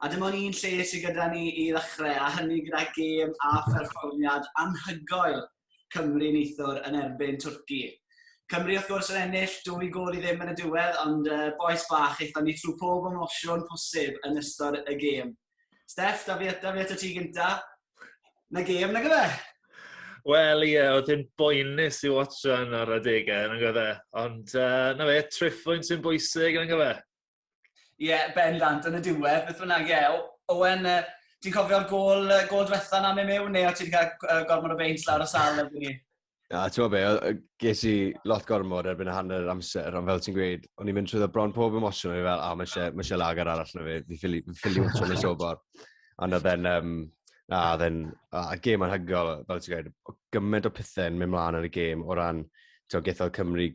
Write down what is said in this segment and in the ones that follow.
A dim ond un lle sydd gyda ni i ddechrau, a hynny gyda gêm a pherfformiad anhygoel Cymru neithiwr yn erbyn Twrci. Cymru wrth gwrs yn ennill dwy gôl i ddim yn y diwedd, ond uh, boes bach, eithon ni trwy pob emosiwn posib yn ystod y gêm. Steff, da fi eto, fi eto ti gynta. Na gêm, na gyfe? Wel, ie, yeah, oedd yn boenus i watch yn ar adegau, yn gyfe. Ond, uh, na fe, triffwynt sy'n bwysig, yn gyfe. Ie, yeah, bendant, yn y diwedd, beth bynnag, ie. Yeah. Owen, uh, ti'n cofio'r gol, uh, gol diwetha na mewn mewn, neu o ti'n cael uh, gormod o beint lawr y sal erbyn ni? Na, ti'n be, ges i lot gormod erbyn y hanner amser, ond fel ti'n gweud, o'n i'n mynd trwy bron pob emosiwn, o'n i'n fel, a, oh, mae eisiau lagar arall na fi, fi ffili, fi ffili wrtio nes o bor. Ond oedd e'n, um, na, oedd e'n, a gêm anhygol, fel ti'n gweud, gymaint o pethau'n mynd mlaen yn y gêm o ran, ti'n gweithio Cymru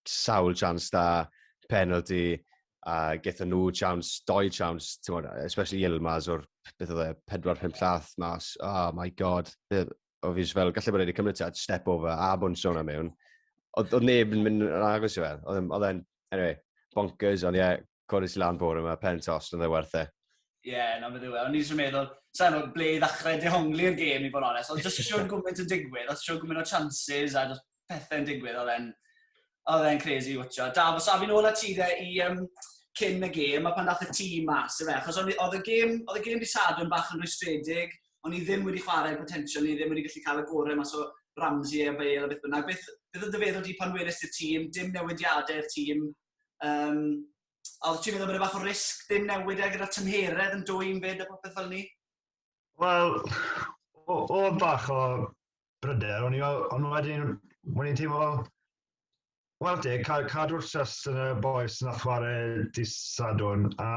sawl chance da, penalty, a getho nhw chance, doi chance, ti'n especially Yilmaz o'r, beth oedd e, 4-5 llath mas, oh my god, o fi fel, gallu bod wedi cymryd tad, step over, a bwns o'n am mewn. Oedd neb yn mynd yn agos i fe, oedd e'n, anyway, bonkers, ond ie, yeah, codi ti lan bore yma, pen tost, oedd e werth e. Ie, yeah, na beth yw e. O'n i'n siarad meddwl, sa'n nhw'n ble i ddechrau dehongli'r gêm i fod yn onest, ond jyst siarad yn gwmynt yn digwydd, oedd siarad gwmynt o chances a jyst pethau'n digwydd, oedd e'n oedd e'n crazy i watcha. Da, fos afi'n ôl at ti dde i um, cyn y gêm, a pan dath y tîm mas, efe, achos oedd y gêm, oedd y gêm di sad yn bach yn rwystredig, ond i ddim wedi chwarae potensial, ni ddim wedi gallu cael y gorau mas o Ramsey a Bale a beth bynnag. Beth, beth oedd dy feddwl di pan welys i'r tîm, dim newidiadau'r tîm, Um, a oedd ti'n meddwl bod y e fath o risg dim newid e gyda tymheredd yn dwy'n fyd a popeth fel ni? Wel, oedd bach o bryder, o'n i fel, ond wedyn, o'n i'n teimlo fel, wel te, cadw'r trust yn y boes na chwarae di sadwn, a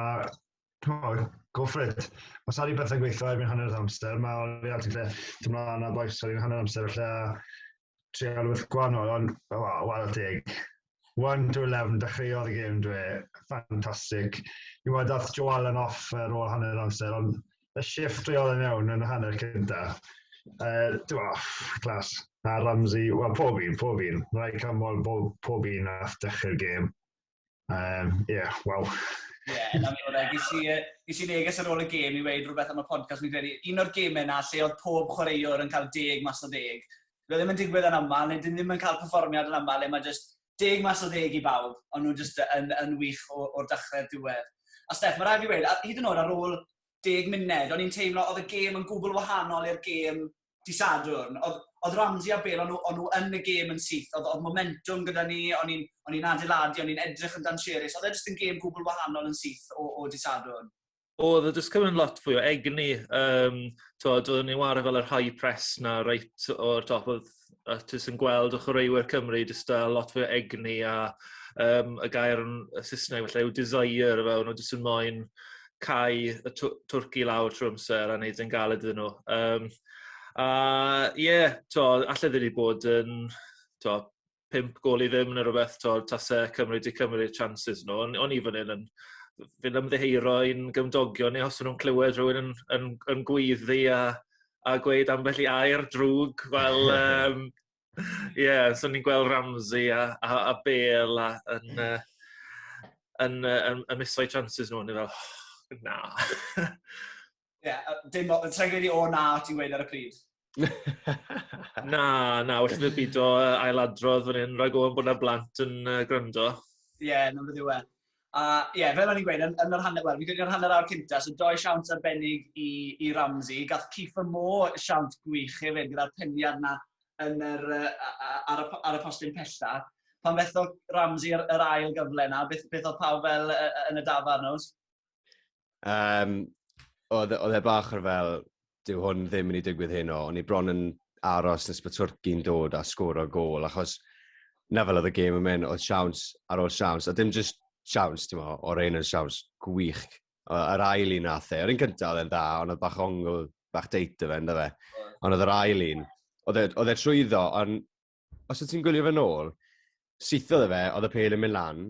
cymod, go for it. Os ar i bethau gweithio erbyn hanner amser, mae Oli Altig lle, dim ond yna boes ar i'n hanner amser lle, trial wrth gwahanol, ond o, oh, wael teg. 1 to 11, dechreuodd y gêm dwe, ffantastig. Dwi'n meddwl dath Joe Allen off ar ôl hanner amser, ond y shift trial yn iawn yn y hanner cynta. Uh, Dwi'n meddwl, clas. A Ramsey, wel pob un, pob un. Rai camol, pob un nath dechrau'r gêm. Um, yeah, waw. Ie, yeah, na mi hwnna. Ges i, uh, ges i neges ar ôl y gêm i weid rhywbeth am y podcast. Mi'n credu, un o'r gêmau yna lle oedd pob chwaraewr yn cael deg mas o deg. Roedd ddim yn digwydd yn aml, neu dyn ddim yn cael perfformiad yn aml, le mae just deg mas o ddeg i bawb, ond nhw'n just yn, yn wych o'r dechrau'r diwedd. A Steph, mae rhaid i wedi, hyd yn oed ar ôl deg munud, o'n i'n teimlo oedd y gêm yn gwbl wahanol i'r gêm Dydd Sadwrn, oedd, oedd Ramsey a Bale, o'n nhw, on nhw yn y gêm yn syth. Oedd, oedd momentum gyda ni, o'n i'n, on i'n adeiladu, o'n i'n edrych yn dan Sheris. Oedd e jyst yn gêm gwbl wahanol yn syth o, o Dydd Sadwrn. Oedd e jyst cymryd lot fwy o egni. Um, tod, oedden ni'n wario fel yr high press na reit o'r top. Oedd a ti'n yn gweld o chwaraewyr Cymru jyst a lot fwy o egni a um, y gair yn y Saesneg felly yw desire fe, o'n nhw jyst yn moyn cau y tw- twrc i lawr trwy amser a wneud e'n galed iddyn nhw. Um, a ie, yeah, to, allai ddim wedi bod yn to, pimp gol i ddim neu rhywbeth, to, tasau Cymru wedi cymryd chances nhw. O'n, on i fan hyn yn fynd ymddeheiro i'n gymdogion ni os nhw'n clywed rhywun yn, yn, yn gweiddi a, a gweud ambell i air drwg. Wel, um, Ie, yeah, so ni'n gweld Ramsey a, a, a Bale a, yn, uh, yn, uh, yn, yn miso'i chances nhw, ni fel, oh, na. Ie, yeah, dim o, tra gen i o na ti'n gweud ar y pryd. na, na, wrth i'r byd o ailadrodd fan hyn, rhaid o'n bod na blant yn uh, gwrando. Ie, yeah, na beth yw e. A ie, fel o'n i'n gweud, yn yn yr hanner, wel, fi'n credu yn yr hanner awr cynta, so dou siawns arbennig i i Ramsey. Gath Kieffer Moore siawns gwych hefyd gyda'r pendiad 'na yn yr yy a- a- ar y p- ar y postyn pella. Pan fethodd Ramsey yr yr ail gyfle 'na, beth beth o'dd pawb fel yy yy yn y dafarn, Owls? Um, oedd, oedd e bach ar fel, dyw hwn ddim yn ei digwydd hyn o, ond i bron yn aros nes bod Twrci'n dod a sgwr o gol, achos na fel oedd y gêm yn mynd, oedd siawns ar ôl siawns, a dim just siawns, ti'n mo, o'r ein yn siawns gwych. Yr ail un nath e, yr un cyntaf oedd e'n dda, ond oedd bach ongl, bach deit o fe, ynddo fe. Ond oedd yr ail un, oedd e, e trwyddo, ond os wyt ti'n gwylio fe nôl, sithodd e fe, oedd y pel yn mynd lan,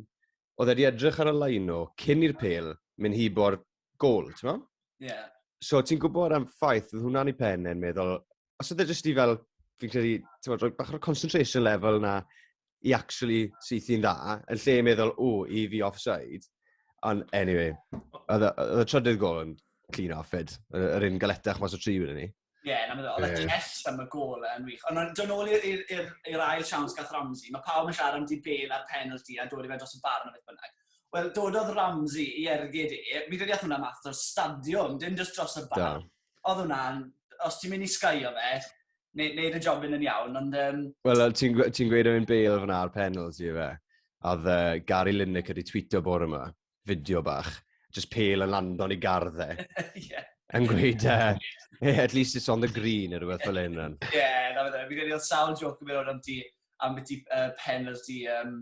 oedd wedi edrych ar y laino cyn i'r pel mynd hi bo'r gol, ti'n meddwl? Ie. Yeah. So ti'n gwybod am ffaith, oedd hwnna'n ei pen e'n meddwl, os oedd e jyst i fel, fi'n credu, ti'n meddwl, bach o'r concentration level na i actually syth i'n dda, yn lle meddwl, o, i fi offside. Ond anyway, oedd y trydydd gol yn clean off fyd, yr un galetach mas o tri wedi ni. Ie, yeah, na fe ddol. Oedd y Chess am y gol yn wych. Ond dyn ôl i'r ail siawns gath Ramsey. Mae pawb yn siarad am di bel a'r penalty a dod i fe dros y bar na beth bynnag. Wel, dododd Ramsey i ergyd e. Mi ddeall hwnna math dros stadiwm, dim just dros y bar. Oedd hwnna'n, os ti'n mynd i sgaio fe, neud y job yn yn iawn, ond... Um... Wel, ti'n ti gweud am un bel fyna ar penalty fe? A oedd uh, Gary Lineker wedi tweetio bore yma. fideo bach, just pale yn lando yn ei gardd e. yeah. Yn gweud, uh, at least it's on the green, neu rhywbeth fel hyn. Ie, yeah, na fe, fi'n gwneud sawl joc yn mynd o'n ti, am beth i uh, penalty um,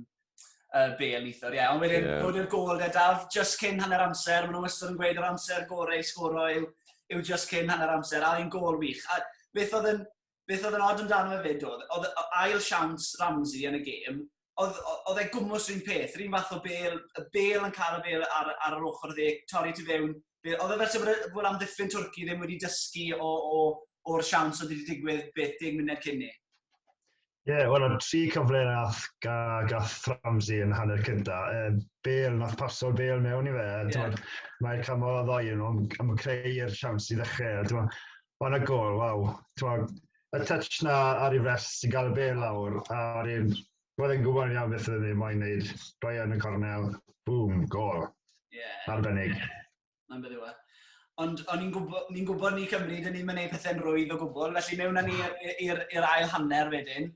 uh, bel eithr, ie. Yeah. Ond wedyn, yeah. bod i'r gol da, daf, just cyn hanner amser, maen nhw wastad yn gweud yr amser gorau i sgoro yw, yw just cyn hanner amser, a un gol wych. A beth oedd yn beth oedd yn od amdano fe fyd oedd, oedd ail siawns Ramsey yn y gêm, oedd, oedd e gwmwys rhywun peth, rhywun fath o bel, y bel yn cael y bel ar, ar yr ochr dde, torri ti fewn. Oedd e fel sef bod am ddiffyn Twrci ddim wedi dysgu o, o, o'r siawns oedd wedi digwydd beth deg munud cyn ni. Ie, yeah, wel, o'n tri cyfle nath ga, gath Ramsey yn hanner cynta. E, bel, nath paso'r bel mewn i fe. Yeah. Mae'r camol o ddoi yn nhw'n creu'r siawns i ddechrau. O, na gol, waw. T'mod, y touch 'na ar ei fest sy'n cael y bel lawr, a wedyn roedd e'n gwybod yn iawn beth oedd e'n moyn wneud, rhoi e yn y cornel, bŵm, gol. Ie. Arbennig. Mae'n beth yw e. Ond o'n i'n gwybod, ni'n gwybod ni Cymru, dyn ni'n mynd gwneud pethau'n rwydd o gwbl, felly mewn â ni i'r ail hanner wedyn.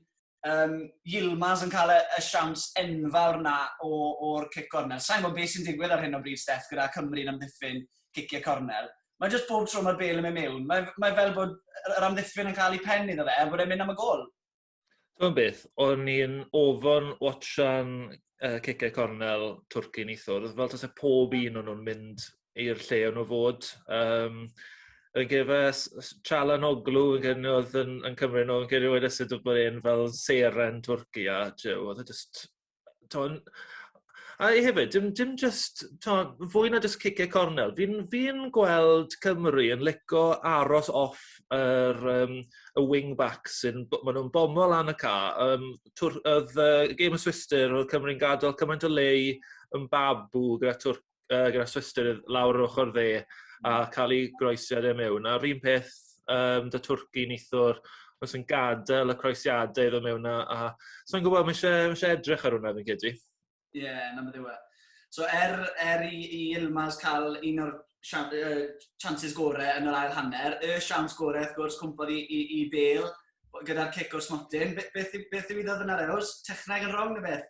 um, Yilmaz yn cael y, y siawns enfawr na o'r cic cornel. Sa'n gwybod beth sy'n digwydd ar hyn o bryd, Steff, gyda Cymru'n amddiffyn ciciau cornel. Mae jyst bob tro mae'r bel yn mynd mewn. Mae, mae fel bod yr amddiffyn yn cael ei pen iddo fe, er bod e'n mynd am y gol. Dwi'n beth, o'n i'n ofon watchan uh, ciciau cornel Twrci neithwrdd, fel tas e pob un o'n nhw'n mynd i'r lle o'n nhw fod. Um, yn gefa Chalan Oglu yn gyrnu oedd yn, yn Cymru nhw, yn gyrnu wedi sydd wedi bod e'n fel seren Twrci a Joe, oedd e just... Ton, a hefyd, dim, dim just, ton, fwy na just cicau cornel. Fi'n fi gweld Cymru yn lico aros off yr, um, y wing-back sy'n, maen nhw'n bomo lan y ca. Um, twr, oedd uh, game of Swister, oedd Cymru'n gadael cymaint o lei yn babu gyda Twrci uh, gyda Swister lawr yr ochr dde a hmm. cael ei groesiad e mewn. A'r un peth um, da Twrci nithwr, os yn gadael y croesiadau iddo mewn a, a so yn gwybod, mae eisiau, mae eisiau edrych ar hwnna fi'n credu. Ie, yeah, na beth yw e. So er, er i, i Ilmaz cael un o'r uh, chances gorau yn yr ail hanner, y siawns gorau, wrth gwrs, cwmpodd i, i, i Bale gyda'r cic o'r smotyn. Beth, beth, beth yw iddo ddyna'r eos? Techneg yn rong neu beth?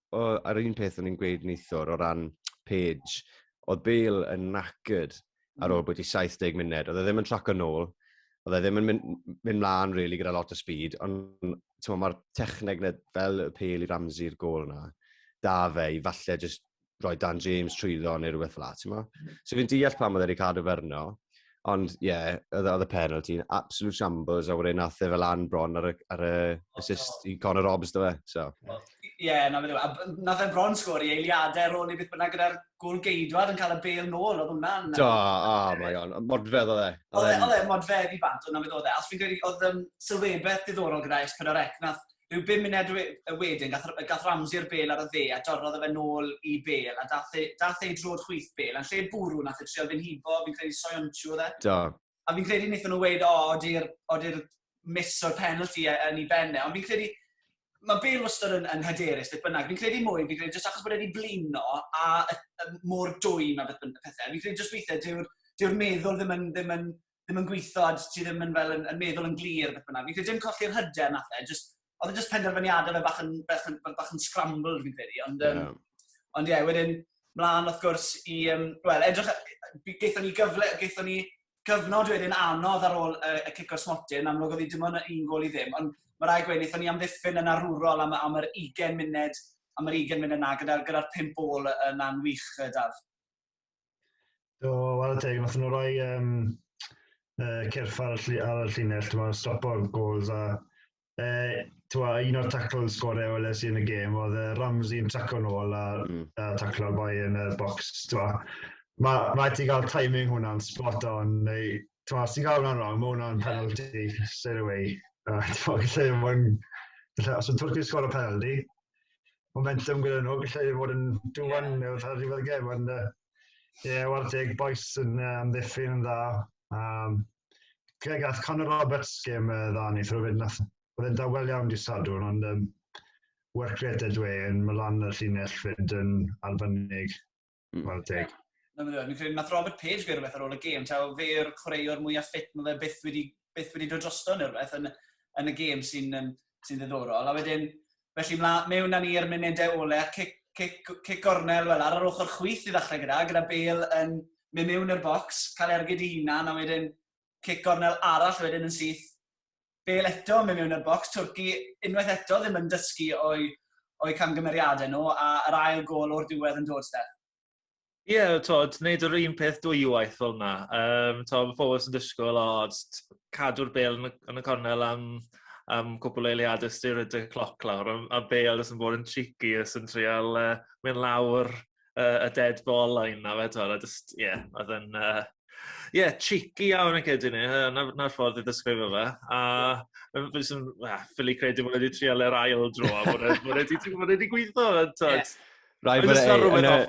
o, ar un peth o'n i'n gweud neithwr o ran Page, oedd Bale yn knackered ar hmm. ôl bod i 70 munud. Oedd e ddim yn traco nôl, oedd e ddim yn mynd, mynd mlaen really, gyda lot o speed, ond mae'r techneg na, fel y pel i Ramsey'r gol yna, da fe i falle just roi Dan James trwyddo neu rhywbeth fel la, ti'n mo? Hmm. So fi'n deall pam oedd e wedi cadw ferno, Ond ie, yeah, oedd oedd y penalty yn absolute shambles a wedyn nath e fel lan bron ar y, ar y assist i Conor Robbs do fe. So. Ie, yeah, na fe dweud. A nath e bron sgwr i eiliadau ar ôl i beth bynnag gyda'r gol geidwad yn cael y bel nôl, oedd hwnna'n... Do, oh my god, modfedd oedd e. Oedd e, oedd e, modfedd i bant, oedd na fe ddodd e. Os fi'n credu, oedd um, sylwebeth diddorol gyda S4C, nath rhyw bum munud y wedyn, gath, gath Ramsey'r bel ar y dde a dorrodd y fe nôl i bel a dath e, dath e drwy'r chwith bel. A'n lle bwrw, nath e trial fyn hibo, fi'n credu Soyonchu oedd e. Do. A fi'n credu wnaethon nhw weid, o, ody'r odi miss o'r penalty e, yn ei benne. Ond fi'n credu, mae Bale wastad yn, yn hyderus, beth bynnag. Fi'n credu mwy, fi'n credu jyst achos bod wedi blino a y, y, mor dwy mae beth bynnag pethau. Fi'n credu jyst weithiau, dyw'r dyw meddwl ddim yn, ddim yn ddim yn gweithio, a ti ddim yn, fel, yn, yn meddwl yn glir, beth bynnag. Fi'n credu dim colli'r hyder nath e, just, oedd e just penderfyniadau fe bach yn, bach yn, bach yn scrambled fi'n credu, ond, um, yeah. ond ie, yeah, wedyn, mlaen wrth gwrs i, um, wel, edrych, geithon ni gyfle, geithon ni gyfnod wedyn anodd ar ôl y, y cic o'r smotyn, amlwg oedd hi dim ond un gol i ddim, ond mae rai gweud, wnaethon ni amddiffyn yn arwrol am, am yr 20 munud, am yr 20 munud yna, gyda'r gyda pimp ôl yna'n wych, Daf. Do, wel teg, nath nhw roi um, uh, cyrff ar y, ar y llinell, ti'n meddwl, stopo gols a uh, twa, un o'r taclo'n sgorau o LSU yn y gêm, oedd uh, Ramsey yn traco'n ôl a, mm. a taclo'r boi yn y box, twa. Mae ma ti gael timing hwnna'n spot on, neu, twa, os ti'n gael hwnna'n wrong, mae hwnna'n penalty straight away. Uh, twa, lle mae'n... Os yn Twrci sgor o penalty, momentum gyda nhw, gallai fod yn duwan yeah. wrth ar ddiwedd y gem, ond uh, ie, war teg, boes yn uh, amddiffyn yn dda. Um, Greg, ath Conor Roberts gem uh, dda ni, throw fyd, nath, oedd yn dawel iawn di sadwn, ond um, work rate ydw e, yn mylan y llinell fyd yn arbennig. Mm. Wel, deg. Na, mae'n dweud, credu, nath Robert Page fe rhywbeth ar ôl y gêm, ta fe yw'r chwaraewr mwyaf ffit mae fe byth wedi, byth wedi dod drosto neu rhywbeth yn, yn y gêm sy'n um, sy ddiddorol. A wedyn, felly mla, mewn â ni i'r munudau ole, a cic, cic, cic gornel fel ar yr ochr chwyth i ddechrau gyda, gyda Bale yn mynd mewn i'r bocs, cael ergyd i hunan, a wedyn cic gornel arall wedyn yn syth bel eto mewn mewn y bocs. Twrci unwaith eto ddim yn dysgu o'i, o'i camgymeriadau nhw a yr ail gol o'r diwedd yn dod, Steph. Ie, yeah, tod, wneud yr un peth dwywaith fel yna. Um, tod, mae pobl sy'n dysgol, o, cadw'r bel yn y, yn y cornel am, am cwpl o eiliadau styr y cloc lawr, a, a bel ys yn bod yn tricky, ys yn trial uh, mynd lawr uh, y dead ball line na fe, twyd, a just, ie, yeah, oedd yn, ie, uh, yeah, cheeky iawn yn cedi ni, na'r ffordd i ddysgrifio fe, a fe sy'n, well, ffili credu bod wedi trial yr ail dro, a bod wedi gweithio, twyd. Rai bod e,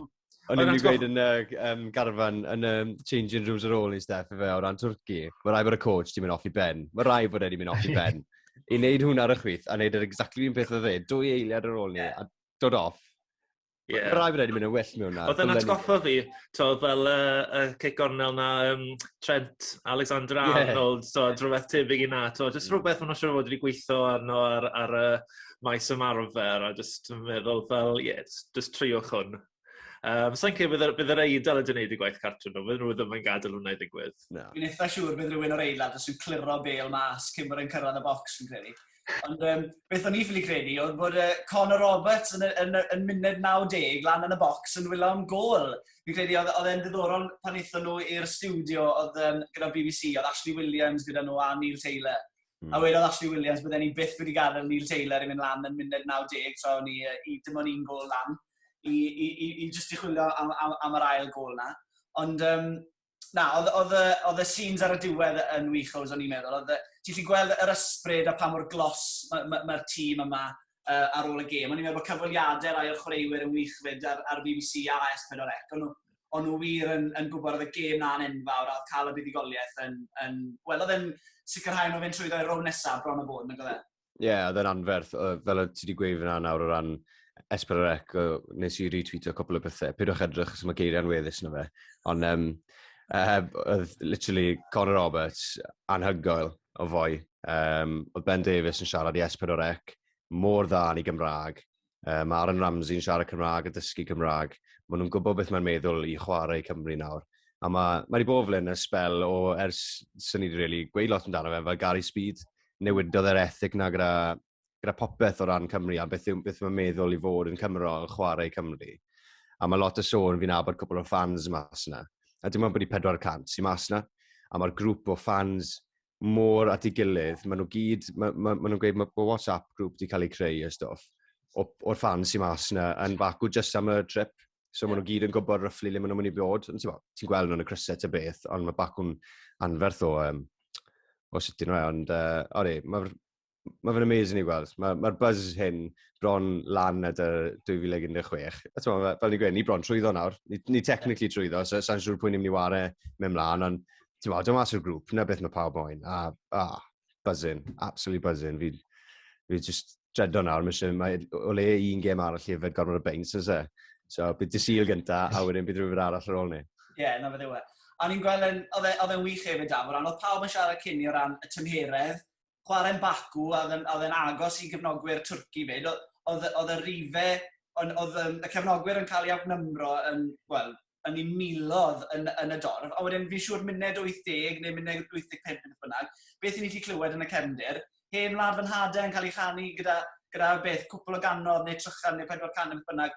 O'n i'n gweud yn y um, garfan, yn y changing rooms ar ôl i Steph fe o ran Twrci. Mae rai bod y coach di mynd off i ben. Mae rai bod wedi mynd off i ben. I wneud hwnna ar y chwith, a wneud yr exactly un peth o dde, dwy eiliad ar ôl ni, a dod off. Yeah. Rai fi wedi mynd yn well mewn na. Oedd yn atgoffa fi, to, fel y uh, uh, Kate Gornell na um, Trent Alexander Arnold, yeah. to, drwbeth tebyg i na, to, just mm. rhywbeth ma'n siŵr fod wedi gweithio arno ar, ar y uh, maes ymarfer, a just meddwl fel, ie, yeah, just, just triwch hwn. Um, Sa'n cael bydd, bydd yr eidl yn gwneud y gwaith cartref nhw, bydd nhw ddim yn gadael hwnna i ddigwydd. No. Fi'n eitha siŵr bydd rhywun o'r eilad os yw'n cliro bel mas cyn bod yn cyrraedd y bocs, fi'n credu. Ond um, beth o'n i ffili credu oedd bod uh, Conor Roberts yn, yn, yn munud 90 lan yn y bocs yn wylo am gol. Fi'n credu oedd, oedd e'n ddiddorol pan eithon nhw i'r studio oedd um, gyda BBC, oedd Ashley Williams gyda nhw a Neil Taylor. Mm. A wedodd Ashley Williams bod e'n byth wedi gadael Neil Taylor i mynd lan yn munud 90 tra o'n i, i dim ond un gol lan i, i, i, i just i chwilio am, am, am yr ail gol na. Ond um, na, oedd y scenes ar y diwedd yn wych oes o'n i'n meddwl. Oedd, ti'n lli gweld yr ysbryd a pa mor glos mae'r ma, ma, ma tîm yma uh, ar ôl y gêm. O'n i'n meddwl bod cyfweliadau rai o'r chwaraewyr yn wych fyd ar, ar BBC a S4C. O'n nhw, o'n nhw wir yn, yn gwybod oedd y gêm na'n enfawr a oedd cael y buddigoliaeth yn... yn wel, oedd yn sicrhau nhw fynd trwyddo i'r rown nesaf bron o bod, nag oedd e? Ie, yeah, oedd e'n anferth. Fel ti wedi gweud fyna nawr o ran Esperec, nes i retweetio cwpl o bethau. Pidwch edrych os mae geiriau'n weddus na fe. Ond um, uh, oedd literally Conor Roberts anhygoel o fwy. Um, oedd Ben Davies yn siarad i Esperec mor dda yn ei Gymraeg. Uh, mae Aaron Ramsey'n siarad Cymraeg a dysgu Cymraeg. Mae nhw'n gwybod beth mae'n meddwl i chwarae Cymru nawr. A mae, mae wedi bod flaen y spel o ers sy'n ni wedi really gweud lot amdano fe, fel Gary Speed, newidodd yr ethic na gyda, gyda popeth o ran Cymru a beth, beth mae'n meddwl i fod yn Cymro yn chwarae Cymru. A mae lot o sôn fi'n abod cwpl o fans mas yna. A dim ond bod i 400 sy'n mas yna. A mae'r grŵp o fans mor at ei gilydd, maen nhw gyd, maen ma, ma nhw'n gweud mae ma WhatsApp grŵp wedi cael ei creu a stwff, o'r ffans sy'n mas yna yn bacw just am y trip. So yeah. maen nhw gyd yn gwybod ryfflu le maen nhw'n mynd i bod. Ti'n gweld nhw'n y crysau ta beth, ond mae bacw'n anferth o, um, o sut dyn nhw e. Ond, uh, ori, mae'r mae fe'n amazing i gweld. Mae'r ma, buzz hyn bron lan at y 2016. A ti'n meddwl, fel ni'n gweud, ni bron trwyddo nawr. Ni, ni technically trwyddo, so sa'n siŵr pwy'n ni'n mynd i ware mewn mlaen, ond ti'n meddwl, dyma sy'r grŵp, na beth mae pawb moyn. A, a, buzzing, absolutely buzzing. Fi, fi just dredo nawr, mae eisiau, mae o le un gem arall i yfed gormod o beins, ys e? So, bydd dysil gynta, a wedyn bydd rhywbeth arall ar ôl ni. Ie, yeah, na fe ddewe. A ni'n gweld, oedd e'n e, wych hefyd, Daf, o ran, oedd pawb yn siarad cyn i o ran y tymheredd, chwarae'n Baku a oedd oedd e'n agos i gefnogwyr Twrci 'fyd, oedd oedd y rhife, oedd oedd yym y cefnogwyr yn cael eu outnumero yn, wel, yn eu miloedd yn yn y dorf, a wedyn fi'n siŵr munud 80 neu munud 85 neu beth bynnag, beth 'y ni 'di clywed yn y cefndir, hen wlad fy nhad e yn cael ei chanu gyda gyda beth, cwpl o gannoedd neu trychan neu pedwar can neu beth bynnag,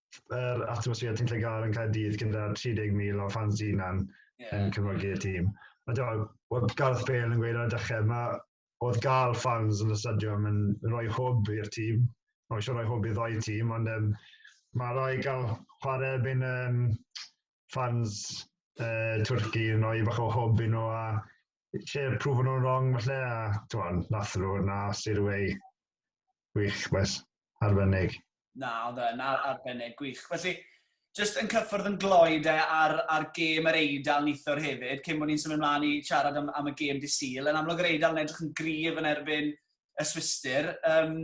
yr atmosffer ti'n lle gael yn cael dydd gyda 30,000 o fans dynan yeah. yn cefnogi'r tîm. A dwi'n meddwl, Gareth Bale yn gweud ar y dechrau, mae oedd gael fans yn y stadiwm yn rhoi hwb i'r tîm. Mae eisiau rhoi hwb i ddoi tîm, ond um, mae rhoi gael chwarae erbyn um, fans uh, Twrci yn rhoi bach o hwb i nhw a lle prwfo nhw'n wrong falle a ti'n nath nhw na sy'r wei gwych beth arbennig. Na, oedd yn ar, arbennig gwych. Felly, jyst yn cyffwrdd yn gloi de ar, ar gêm yr Eidal nithwr hefyd, cyn bod ni'n symud ymlaen i siarad am, am y gêm di syl. Yn amlwg yr Eidal yn edrych yn grif yn erbyn y Swister. Um,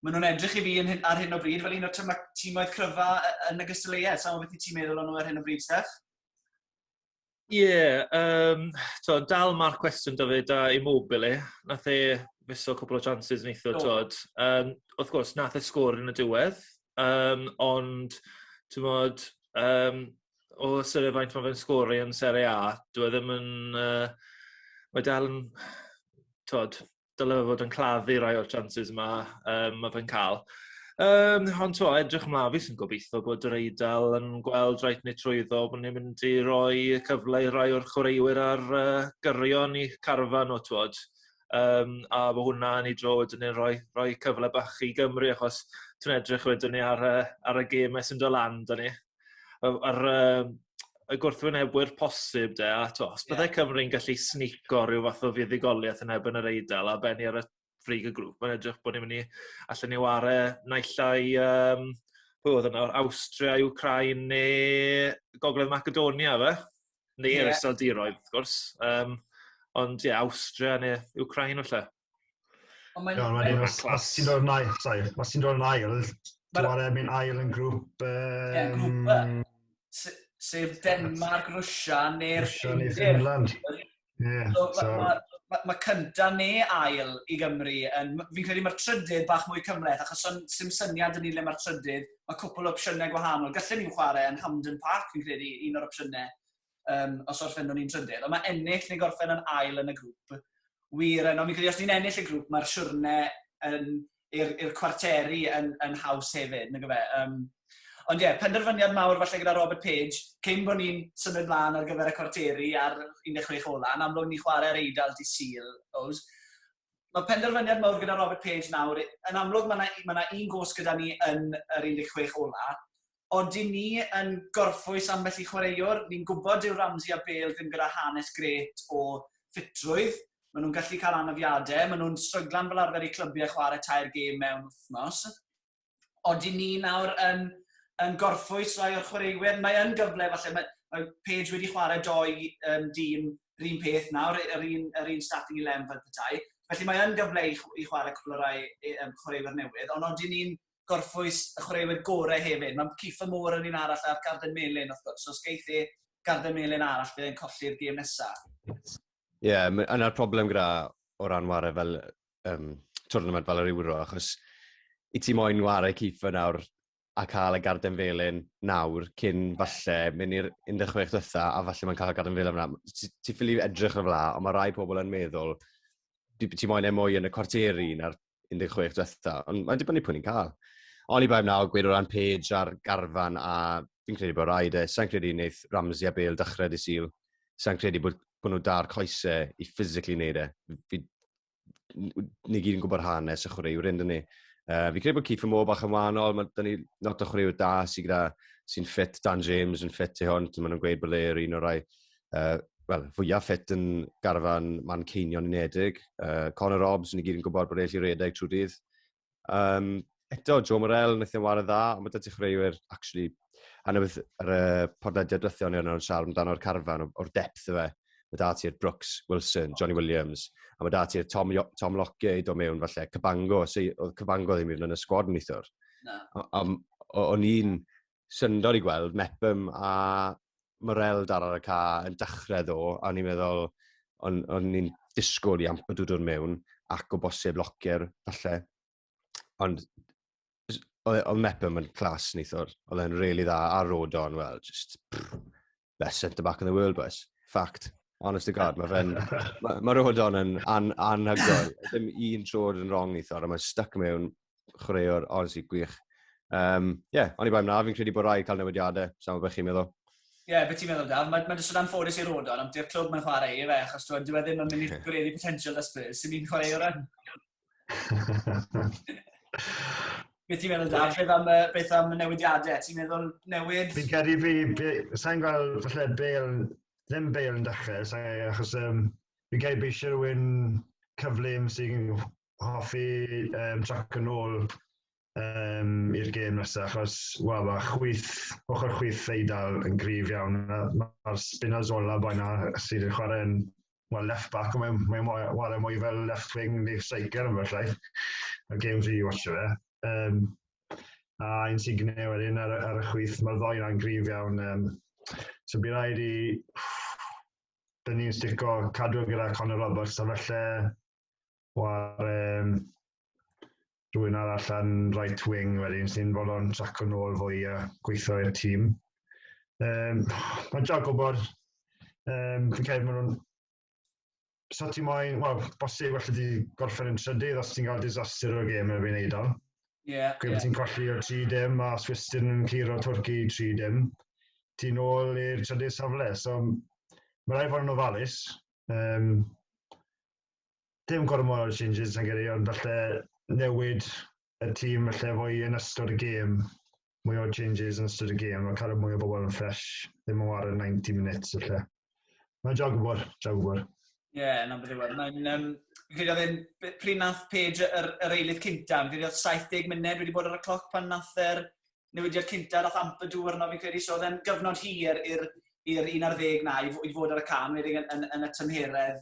maen nhw'n edrych i fi yn, ar hyn o bryd fel un o'r tyma, tîmoedd cryfa yn y gystadleuaeth. Sa'n beth i ti'n meddwl o'n nhw ar hyn o bryd, Steph? Ie, yeah, um, to, dal marc cwestiwn da fe da Immobile. Nath e fiso cwpl o chances neitho, oh. tod. Um, wrth gwrs, nath e sgwr yn y diwedd, um, ond, ti'n modd, um, o syr e faint mae fe'n sgori yn Serie A, dwi e ddim yn... Uh, mae dal yn... Tod, dyle fe fod yn claddu rai o'r chances yma um, mae fe'n cael. Um, ond to, edrych ymlaen fi sy'n gobeithio bod yr Eidal yn gweld rhaid ni trwyddo bod ni'n mynd i roi cyfle i rai o'r chwaraewyr ar uh, gyrion i carfan o twod. Um, a fo hwnna ni dro wedyn ni'n rhoi, rhoi cyfle bach i Gymru achos ti'n edrych wedyn ni ar, uh, ar y gêm sy'n dod lan da ni. y yr yym y gwrthwynebwyr posib 'de a t'o' os bydde Cymru'n gallu snico ryw fath o fuddugoliaeth yn erbyn yr Eidal a benni ar y frig y grŵp mae'n edrych bo' ni myn' i allen ni 'ware naill ai yym pwy odd e nawr Awstria Wcráin ne' Gogledd Macedonia yfe? Neu yr Iseldiroedd wrth gwrs yym ond ie Awstria ne' Wcráin falle. Ond mae'n... Iawn, wedyn, os, os ti'n dod yn ail, sorry, os ti'n dod yn ail, ti'n ar erbyn ail yn grŵp... Um... Ie, grŵp Sef Denmark, Rwysia, neu'r Finland. Ie, so... so... Mae ma, ma cynta neu ail i Gymru. Yn, fi'n credu mae'r trydydd bach mwy cymleth, achos son, sy'n syniad yn ni le mae'r trydydd. Mae cwpl o opsiynau gwahanol. Gallwn ni'n chwarae yn Hamden Park, fi'n credu, un o'r opsiynau. um, os orffennwn ni'n trydydd. Ond mae ennill neu gorffen yn ail yn y grŵp wir yno. Mi'n credu os ni'n ennill y grŵp, mae'r siwrne yn, i'r, ir cwarteri yn, yn haws hefyd, nag fe. Um, ond ie, yeah, penderfyniad mawr falle gyda Robert Page, cyn bod ni'n symud mlaen ar gyfer y cwarteri ar 16 ola, yn amlwg ni chwarae'r eidl di Sil, Ows. Mae penderfyniad mawr gyda Robert Page nawr, yn amlwg mae 'na mae 'na un gost gyda ni yn yr 16 ola', odyn ni yn gorffwys ambell i chwaraewr, ni'n gwybod dyw Ramsey a Bale ddim gyda hanes grêt o ffitrwydd, ma' nhw'n gallu cael anafiade, ma' nhw'n stryglan fel arfer i clybiau chwarae tair gêm mewn wythnos. ond i ni nawr yn, yn gorffwys rai o'r chwaraewyr, mae yn gyfle falle, mae, mae Page wedi chwarae doi um, dîm yr un peth nawr, yr un, yr un starting 11 fel petai, felly mae yn gyfle i, i chwarae cwpl o rai um, chwaraewyr newydd, ond ond i ni'n gorffwys y chwaraewyr gorau hefyd. Mae Cifa Môr yn un arall a'r Garden Melin, wrth gwrs, so os geith e Garden Melin arall, bydd e'n colli'r gêm nesaf. Ie, yeah, yna'r problem gyda o ran warau fel um, twrnament fel yr Euro, achos i ti moyn wario Kieffer nawr a cael y garden felyn nawr cyn falle mynd i'r 16 ddytha a falle mae'n cael y garden felyn yna. Ti, ti ffili edrych yn fla, ond mae rai pobl yn meddwl ti, ti moyn e mwy yn y cwarteri na'r 16 ddytha, ond mae'n dibynnu pwy ni'n cael. Oni bai nawr gweud o ran Page a'r garfan a fi'n credu bod rhaid e. Sa'n credu wneud Ramsey a Bale dychred i syl. Sa'n credu bod, bod nhw da'r coesau i physically wneud e. Fi, ni gyd yn gwybod hanes y chwaraewyr hyn, dyn ni. Uh, fi credu bod Keith Moore bach yn wahanol, mae dyn ni not o chwaraewyr da sy'n gyda sy'n ffit Dan James yn ffit i hwn, maen nhw'n gweud bod e'r un o'r rai uh, well, fwyaf ffit yn garfan man ceinion unedig. Uh, Conor Robbs, ni gyd yn gwybod bod e'n lli redeg trwy dydd. Um, eto, Joe Morel, wnaeth e'n wario dda, ond mae dydy chreuwyr, actually, a na beth ar y podlediad dwethion ni yna yn siarad amdano'r carfan o'r depth fe. Mae da ti'r Brooks, Wilson, Johnny Williams, a mae da ti'r Tom, Tom Locke i do mewn falle, Cabango, oedd Cabango ddim i fynd yn y sgwad neithwr. Na. O'n i'n syndod i gweld Mepham a Morel dar ar y ca yn dechrau ddo, a ni'n meddwl, o'n, on ni'n disgwyl i Amper dod mewn, ac o bosib Lockyer, falle. Ond oedd Mepham yn clas neithwr, oedd e'n really dda, a Rodon, wel, just... Pff. best centre back in the world boys. Fact. Honest to God, mae fe'n... Mae ma Rodon yn an, anhygoel. Dim un troed yn wrong i thor, a mae'n stuck mewn chwaraewr, honestly, gwych. Um, yeah, ond i bai mna, fi'n credu bod rai cael newidiadau, sa'n gwybod beth chi'n meddwl. Ie, yeah, beth ti'n meddwl, Daf? Mae'n ma jyst yn anffodus i Rodon, ond di'r clwb mae'n chwarae i fe, achos dwi'n dweud e ddim yn mynd i gwneud i potential da Spurs, sy'n ni'n chwarae o'r rhan. Beth ti'n meddwl, Dad? Beth am, uh, beth am y newidiadau? Ti'n meddwl newid? Fi'n credu fi, be, sa'n gweld falle Bale, ddim Bale yn dechrau, sa'n achos um, fi'n credu bod eisiau rhywun cyflym sy'n hoffi um, trac yn ôl um, i'r gêm nesaf, achos, wel, mae chwyth, ochr chwyth Eidal yn grif iawn. Mae'r Spinazzola boi na sydd yn chwarae yn well, left back, mae'n mae chwarae mwy fel left wing neu striker yn felly. Y gêm fi i watch fe. Um, a ein Signe wedyn ar, ar y chwyth, mae'r ddoi na'n grif iawn. Um, so bydd rhaid i... Dyn ni'n stico cadw gyda Conor Roberts, a felly War um, rhywun arall yn right wing wedyn sy'n fod o'n trac yn ôl fwy a gweithio i'r tîm. Um, mae'n dra gwybod, um, fi'n cael maen nhw'n... Sa ti moyn, wel, bosib allu di gorffen yn trydydd os ti'n cael disaster o'r gêm erbyn Eidal. Ie. Yeah, Gwyd yeah. ti'n colli o 3 dim a Swistin yn cyr o Twrci 3 dim. Ti'n ôl i'r trydydd safle, so mae rhaid fod yn ofalus. Um, dim gormod o changes na gyrru, ond falle newid y tîm falle fwy yn ystod y gêm, mwy o changes yn ystod y gêm, a cael y mwy o bobl yn ffres, ddim yn wario 90 minutes falle. Mae'n job gwybod, job gwybod. Ie, yeah, na beth yw e. Mae'n... Um, Fi'n credu oedd e'n pryd nath Paige yr, yr eilydd cynta, fi'n credu oedd 70 munud wedi bod ar y cloc pan nath yr newidiad cynta dath Ampadu arno fi'n credu, so oedd e'n gyfnod hir i'r i'r 11 na i, i fod ar y can, wedi yn, yn, yn y tymheredd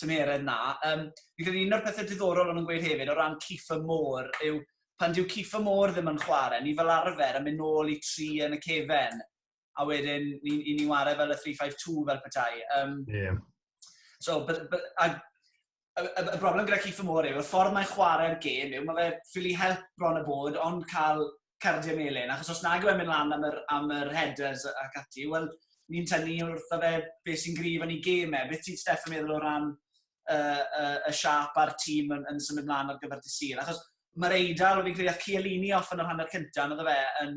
tymheredd na. Um, fi'n credu un o'r pethau diddorol o'n nhw'n gweud hefyd o ran Kifa Môr yw pan dyw Kifa Môr ddim yn chwarae, ni fel arfer yn mynd nôl i tri yn y cefen. a wedyn ni'n ni, ni wario fel y 352 fel petai. Um, yeah. So, but, but, a, y, y, y broblem gyda Keith Moore yw, y ffordd mae'n chwarae'r gêm yw, mae fe ffili help bron y bod, ond cael cardiau melin, achos os nag yw'n mynd lan am yr, am yr headers ac ati, wel, ni'n tynnu wrth o fe beth sy'n grif yn ei gêm e. Beth ti'n Steph yn meddwl o ran y, y, y siap a'r tîm yn, yn symud mlaen ar gyfer dydd Sul? Achos mae'r Eidal, fi'n credu, oedd Cialini off yn yr hanner cyntaf, oedd e yn,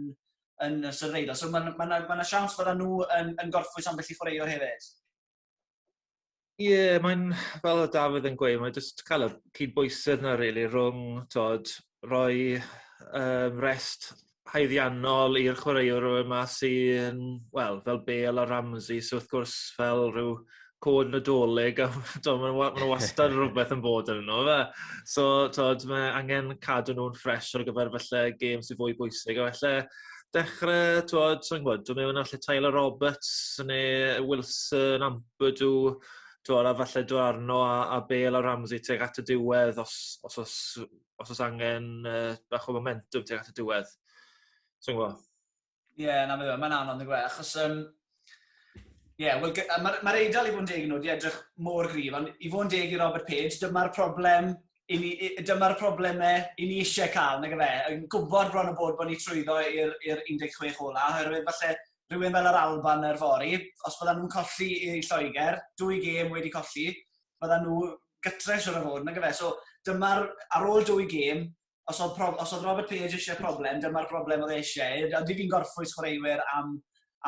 yn y Sir Feidal. So mae'n ma ma ma siawns bod nhw yn, yn gorffwys ambell i chwaraewr hefyd. Ie, yeah, mae'n fel y Dafydd yn gweud, mae'n just cael y cyd-bwysedd na rili really, rhwng tod, rhoi um, rest haeddiannol i'r chwaraewr yma sy'n, wel, fel Bale a Ramsey, so wrth gwrs fel rhyw cod nadolig, a to, mae yna ma wastad rhywbeth yn bod yn nhw. Fe. So, to, mae angen cadw nhw'n ffres ar gyfer felly gêm sy'n fwy bwysig. A felly, dechrau, to, ti'n gwybod, dwi'n meddwl allu Tyler Roberts neu Wilson, Ampadu, to, a falle dwi arno a, a Bale a Ramsey teg at y diwedd os, os, os, os, os angen uh, bach o momentum teg at y diwedd. Ti'n gwybod? Ie, yeah, na, mae'n ma anodd, gwe, achos... Um, Ie, yeah, well, mae'r ma Eidal i fod yn deg nhw, di edrych mor grif, ond i fod yn deg i Robert Page, dyma'r problem dyma'r problemau i ni eisiau cael, nag efe, yn gwybod bron o bod bod ni trwyddo i'r 16 ola, oherwydd falle rhywun fel yr Alban yr fori, os bydda nhw'n colli i Lloegr, dwy gêm wedi colli, bydda nhw gytres o'r fod, nag efe. So, dyma'r, ar ôl dwy gêm, os oedd, prof, os oedd Robert Page eisiau problem, dyma'r broblem oedd e eisiau. Ydyn ni'n gorffwys chwaraewyr am,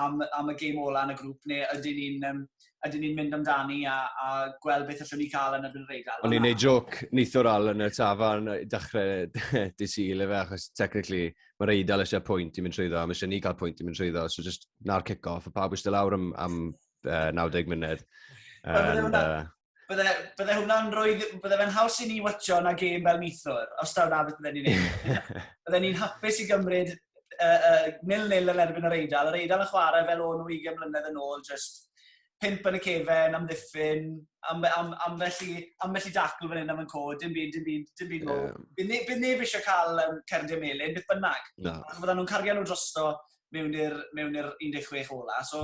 am, am y gêm ola yn y grŵp, neu ydyn ni'n um, ydyn ni'n mynd amdani a, a gweld beth allwn ni cael yn erbyn yr Eidal. O'n i'n neud joc nithwr al yn y tafarn i dechrau dy syl efe, achos technically mae'r Eidal eisiau pwynt i mynd trwyddo, a mae eisiau ni cael pwynt i mynd trwyddo, so just na'r kick-off, a pawb eisiau lawr am, am uh, 90 munud. And, uh, bydde, bydde hwnna'n rhoi... Bydde fe'n haws i ni watcho na gêm fel nithwr, os taw na beth bydde ni'n ei. bydde ni'n hapus i gymryd uh, uh, nil-nil yn erbyn yr Eidal. Yr Eidal yn chwarae fel o'n nhw 20 mlynedd yn ôl, just pimp yn y cefen, am ddiffyn, am, am, am, felly, am felly dacl fan hyn am yn co, dim byd, dim byd, dim byd mowr. Um, bydd, ne, bydd neb eisiau cael um, cerdiau melin, beth bynnag. No. Ac fydden nhw'n cario nhw drosto mewn i'r 16 ola. So,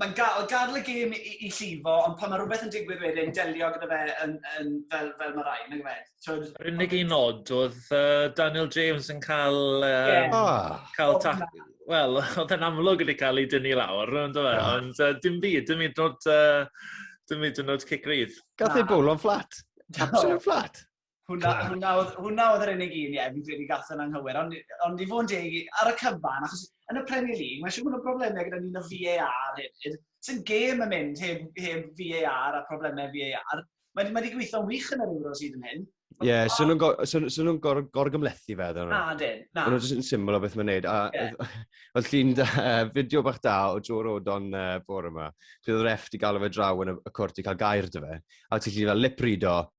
mae'n ga oedd gadl y gêm i i llifo, ond pan mae rhywbeth yn digwydd wedyn, delio gyda fe yn yn fel fel ma' raid, nag yfe? T'wod? Yr unig un nod oedd uh, Daniel James yn cael um, yeah. Ah. cael ta... Wel, oedd e'n amlwg wedi cael ei dynnu lawr, ond oedd e? Ah. Ond uh, dim byd, dim hyd nod, uh, dim hyd nod cic rydd. Gath ei bwl o'n fflat. Absolute fflat. Hwna, hwna, hwna oedd yr unig un, ie, yeah, fi'n credu gath yn anghywir. Ond, ond i fod yn deg, ar y cyfan, achos yn y Premier League, mae eisiau bod yn broblemau gyda ni'n y VAR hefyd. Sy'n gêm yn mynd heb, heb VAR a problemau VAR. Mae wedi ma gweithio'n wych yn yr Euros hyd yn hyn. Ie, yeah, so nhw'n gor, so, so nhw gor, gor gymlethu fe, ddyn nhw. Na, dyn, na. Ond nhw'n syml o beth mae'n neud. A yeah. oedd llun da, fideo bach da o Joe Rodon uh, bore yma. Dwi'n oedd ref di gael o fe draw yn y, y cwrt i cael gair dy fe. A ti'n llun fel lip read o,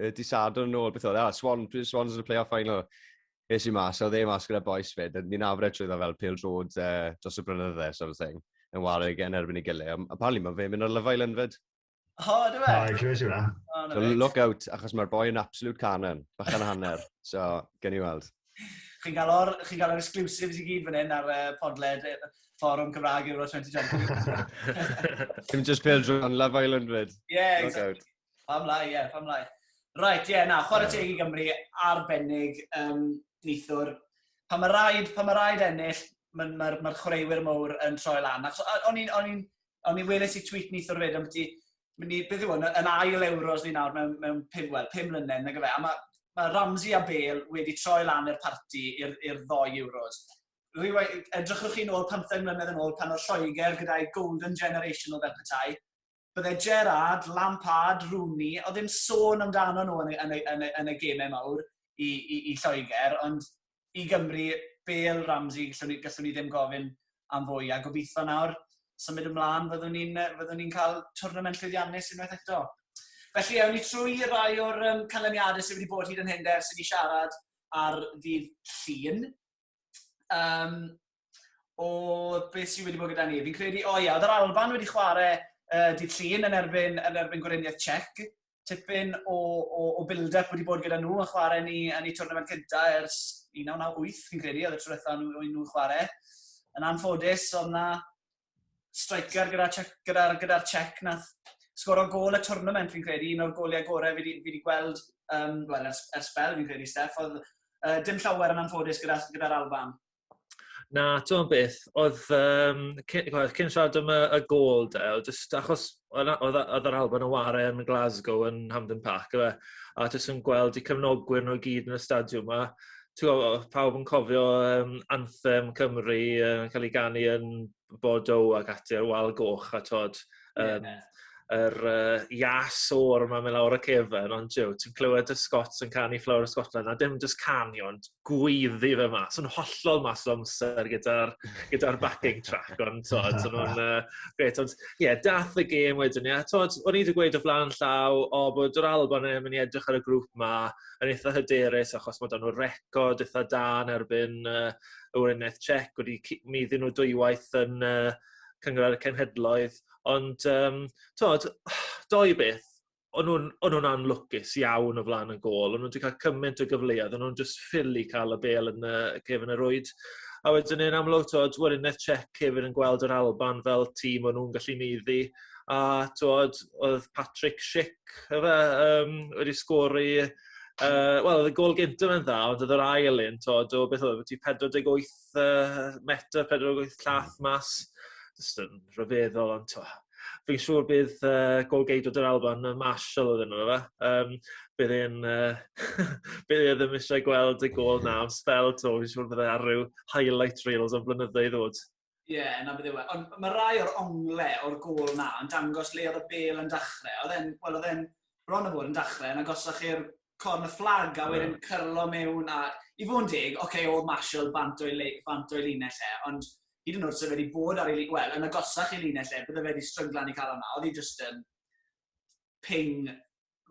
uh, di Sadwrn yn ôl, beth oedd, e? ah, Swan, Swans yn y playoff final. Es i mas, oedd e mas gyda boes fyd, a ni'n afred trwy dda fel pil drod uh, dros y brynydde, sort of thing, yn wario gen erbyn i gilydd. Apparently mae fe'n mynd ar Love Island fyd. O, oh, dwi'n meddwl. O, clywys i hwnna. So look out, achos mae'r boi yn absolute canon, bach yn hanner. So, gen i weld. Chi'n cael o'r, chi'n cael o'r exclusives i gyd fan hyn ar uh, podled fforwm Cymraeg Euro 2020. Dim just pêl drwy'n Love Island fyd. Yeah, exactly. Pam lai, ie, pam lai. Right, ie, yeah, na, chwarae teg i Gymru, arbennig, um, nithwr. Pan mae rhaid, pan mae rhaid ennill, mae'r ma, ma chwaraewyr mowr yn troi lan. O'n i'n, o'n i'n, o'n i'n weles i tweet nithwr fyd, ond byddi, beth yw hwn, yn ail euros ni nawr mewn, mewn pum, well, pum mlynedd, nag efe. A mae ma Ramsey a Bale wedi troi lan i'r parti i'r ddoi euros. Edrychwch chi'n ôl 15 mlynedd yn ôl pan oedd Lloegr gyda'i golden generation o fel petai, bydde Gerrard, Lampard, Rooney, oedd ddim sôn amdano nhw yn y, yn y, yn y, yn y gemau mawr i, i, i Lloegr, ond i Gymru, Bale, Ramsey, gallwn ni, gallwn ni ddim gofyn am fwy, a gobeithio nawr symud ymlaen fyddwn ni'n fyddu ni cael twrnament llwyddiannus unwaith eto. Felly, ewn ni trwy rai o'r um, canlyniadau sydd wedi bod hyd yn hyn der sydd wedi siarad ar ddydd llun. um, o beth sydd wedi bod gyda ni. Fi'n credu, o ia, oedd yr Alban wedi chwarae uh, dydd llun yn erbyn, yn erbyn Gweriniaeth Czech. Tipyn o, o, o build-up wedi bod gyda nhw yn chwarae ni yn eu twrnament gyda ers 1998, fi'n credu, oedd y trwythau nhw, nhw'n chwarae. Yn anffodus, oedd yna striker gyda'r gyda, gyda, gyda Czech nath sgoro gol y tournament fi'n credu, un o'r goliau gorau fi wedi gweld um, well, ers, ers bel fi'n credu, Steph, oedd uh, dim llawer yn anffodus gyda'r gyda, gyda Alban. Na, ti'n beth, oedd, um, cyn, oedd cyn siarad am y, y gol, Del, just achos oedd a- oedd a- oedd yr Alban yn ware yn Glasgow yn Hampden Park yfe a jyst yn gweld 'u cefnogwyr nhw i gyd yn y stadiwm 'ma t'mo' o- o'dd pawb yn cofio yym anthem Cymru yn ca'l 'i ganu yn Bordeaux ac ati ar wal goch a t'od yym... Ie. ...yr yy ias o'r 'ma myn' lawr y cefyn ond jiw ti'n clywed y Scots yn canu Flower of Scotland a dim jyst canu ond gweiddi fe mas. Yn hollol mas o amser gyda'r gyda backing track, ond tod, so nhw'n uh, gret. Ond ie, yeah, dath y gêm wedyn, ie. Yeah. Tod, o'n i wedi gweud o flaen llaw, o bod yr Alban yn mynd i edrych ar y grŵp ma, yn eitha hyderus, achos mae dan nhw'r record eitha da yn erbyn uh, y Wyneth Czech, wedi mi ddyn nhw dwywaith yn uh, cyngor ar y cenhedloedd. Ond, um, tod, doi beth, o'n nhw'n o'n nhw'n anlwcus iawn o flaen y gol. O'n nhw wedi cael cymaint o gyfleoedd, o'n nhw'n just ffili cael y bel yn y cefn yr oed. A wedyn yn amlwg, twod, Werineth Czech hefyd yn gweld yr Alban fel tîm o'n nhw'n gallu meiddi. A twod, oedd Patrick Schick efe, um, wedi sgori Uh, Wel, oedd y gol gyntaf yn dda, ond oedd yr ail un, tod, o beth oedd, ti 48 wyth uh, metr, pedwar o wyth llath mas. Just yn rhyfeddol, ond to. Fi'n siŵr bydd uh, golgeidwr dy'r Alban, uh, Marshall oedd yno fe. Um, bydd e'n... Uh, bydd e ddim eisiau gweld y gol na am spel to. Fi'n siŵr bydd e ar rhyw highlight reels o'n blynyddoedd ddod. Ie, yeah, na bydde we. Ond mae rai o'r ongle o'r gol na yn dangos le oedd y bel yn dachrau. Oedd e'n, wel, oedd e'n bron o fod yn dachrau yn agosach i'r Corn y Fflag, a wedyn cyrlo mewn, a i fod yn deg, oce, okay, oedd Marshall bant o'i, le, bant o'i linell e, ond hyd yn oed sef wedi bod ar ei, wel, yn agosach i linell e, bydde fe wedi strynglan i cael hwnna, oedd hi just yn ping,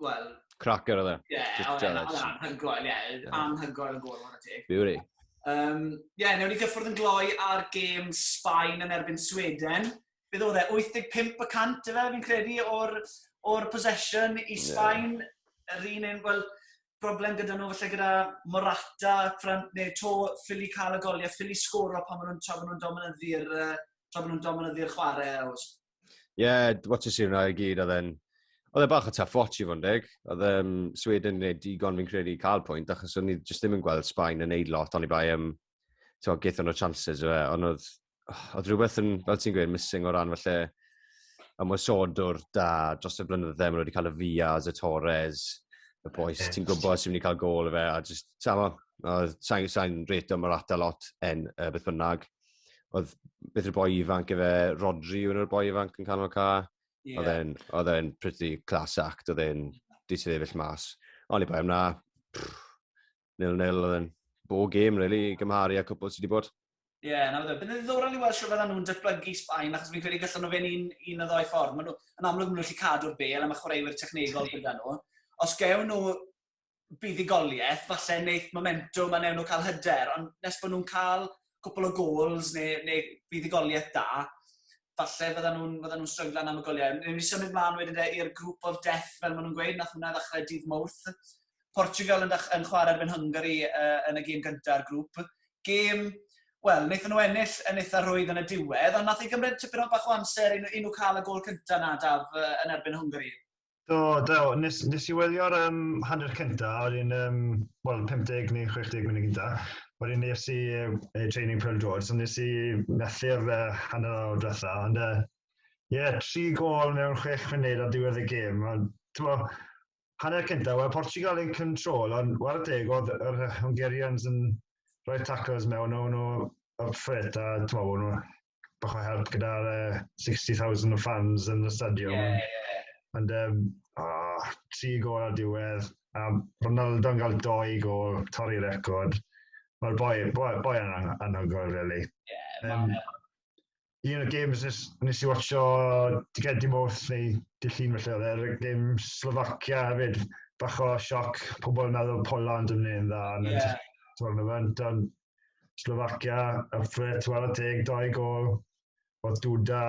wel... Cracker oedd e. Ie, oedd e'n anhygoel, ie, anhygoel yn gol, mae'n teg. Beauty. Um, ie, yeah, newn ni gyffwrdd yn gloi ar gêm Sbaen yn erbyn Sweden. beth oedd e, 85 y cant, efe, fi'n credu, o'r, or possession i Sbaen. Yeah. Yr un un, wel, broblem gyda nhw, felly gyda Morata, Fran, neu to, ffili cael y goliau, ffili sgoro pan maen nhw'n tra nhw'n dominyddu'r tra nhw'n dominyddu'r chwarae. Ie, yeah, what a sir na i gyd, oedd e'n... Oedd e bach o tough watch i fod yn deg. Oedd um, Sweden yn gwneud digon fi'n credu cael pwynt, achos o'n i jyst ddim yn gweld Sbaen yn neud lot, ond i bai am um, gaethon nhw chances o fe, ond oedd oedd rhywbeth yn, fel ti'n gweud, missing o ran falle ymwysodwr da dros y blynydde, maen nhw wedi cael y Fias, y Torres, y boes, okay. ti'n gwybod sy'n mynd i cael gol y fe, a just, samo, sa'n sa reto Morata lot en uh, beth bynnag. Oedd beth yw'r boi ifanc efe, Rodri yw'r boi ifanc yn canol ca. Yeah. Oedd e'n pretty class act, oedd e'n disyddefill mas. Ond i bai am na, nil-nil oedd yn bo gêm, really, i gymharu â cwpl sydd wedi bod. Ie, yeah, na fe Bydd yn ddiddorol i weld sy'n fydden nhw'n datblygu Sbaen, achos fi'n credu gallan nhw fe'n un, un o ddoi ffordd. Maen nhw, yn amlwg, maen nhw'n gallu cadw'r bel, a mae chwaraewyr technegol gyda nhw. Os gewn nhw buddugoliaeth, falle wneud momentum a newn nhw cael hyder, ond nes bod nhw'n cael cwpl o gols neu, neu fuddugoliaeth da, falle fydda nhw'n fydda nhw stryglan am y goliau. Newn ni symud mlaen wedyn de i'r group of death, fel maen nhw'n gweud, nath hwnna ddechrau dydd Mowrth. Portugal yn, yn chwarae erbyn Hungary uh, yn y gêm gyntaf grŵp. Gêm Wel, wnaethon nhw ennill yn eitha rhwydd yn y diwedd, ond nath ei gymryd tipyn o bach o amser i nhw, i nhw cael y gol cyntaf na, Daf, yn erbyn Hwngari. Do, do. Nes, nes i wylio'r um, hanner cynta, oedd un, um, wel, 50 neu 60 munud gynta. Oedd un nes i uh, training Pearl George, so nes i methu'r uh, hanner awr diwetha. Ond, ie, uh, yeah, tri gol mewn chwech munud ar diwedd y gêm. Ond, tyfo, hanner cynta, wel, Portugal yn control, ond war deg oedd yr Hungarians yn rhoi tacos mewn o'n nhw y ffrit, a tyfo, o'n nhw bach o help gyda'r uh, 60,000 o fans yn y stadiwm. Yeah, yeah, yeah. Ond, um, oh, tri gol ar diwedd, a Ronaldo yn cael doi gol, torri record. Mae'r boi, boi, boi yn anhygoel, really. Yeah, um, un o'r games nes, nes i watcho Digedi Moth neu Dillun felly oedd e'r game Slovakia hefyd. Bach o sioc, pobl yn meddwl Poland yn mynd dda. Yeah. Tournament, ond Slovakia a Fred 42 gol. Oedd Duda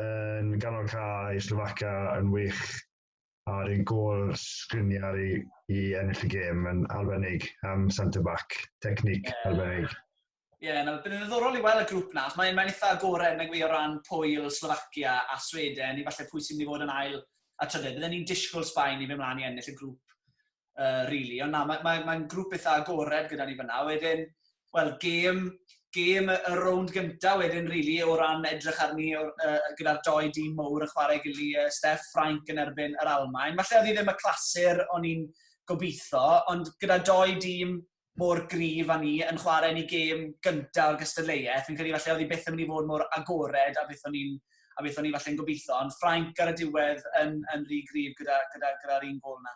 yn ganol cae i Slovakia yn wych a'r un gol sgriniau i, i ennill y gêm yn arbennig am centre-back, technique yeah. arbennig. Ie, yeah, no, bydd yn ddiddorol i weld y grŵp na, mae'n mae eitha agored nag fi o ran Pwyl, Slovakia a Sweden, i falle pwy sy'n mynd i fod yn ail a trydedd. Byddwn ni'n disgwyl Sbaen i fe mlaen i ennill y grŵp uh, really. Ond na, mae'n mae, mae grŵp eitha agored gyda ni fyna. Wedyn, wel, gêm, gêm y rownd gyntaf wedyn, really, o ran edrych arni uh, gyda'r doi dîm mowr yn chwarae gili uh, Steff Ffrainc yn erbyn yr Almain. Falle oedd hi ddim y clasur o'n i'n gobeithio, ond gyda doi dîm mor grif a ni yn chwarae ni gêm gyntaf o'r gystadleuaeth, fi'n credu falle oedd hi beth yn mynd i fod mor agored a beth o'n i'n a beth o'n i falle'n gobeithio, ond Ffrainc ar y diwedd yn, yn rhy grif gyda'r gyda, gyda, gyda un gol yna.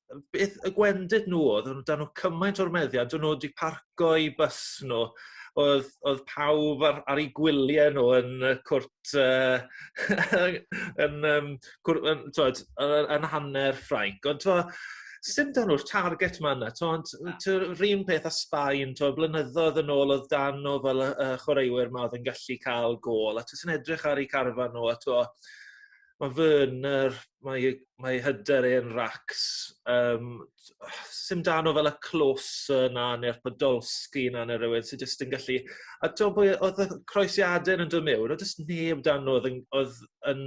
beth y gwendid nhw oedd, oedd dan nhw cymaint o'r meddiad, dyn nhw wedi parco i bus nhw, oedd, oedd pawb ar, ar ei gwyliau nhw yn y cwrt, uh, yn, um, cwrt, yn, twed, yn hanner Ffrainc, ond to, sy'n dan nhw'r target ma yna, ond rhywun peth a Sbaen, to, blynyddoedd yn ôl oedd dan nhw fel y, y chwaraewyr ma oedd yn gallu cael gol, a ti'n edrych ar ei carfa nhw, a to, ma' fy yn yr mae ei mae ei hyder e yn racs yym t- o sim dan o fel y closer 'na ne'r podolsky 'na ne' rywun sy jyst yn gallu a t'o' pwy o- odd y croesiade yn do' miwn o' do's neb dan n'w odd yn odd yn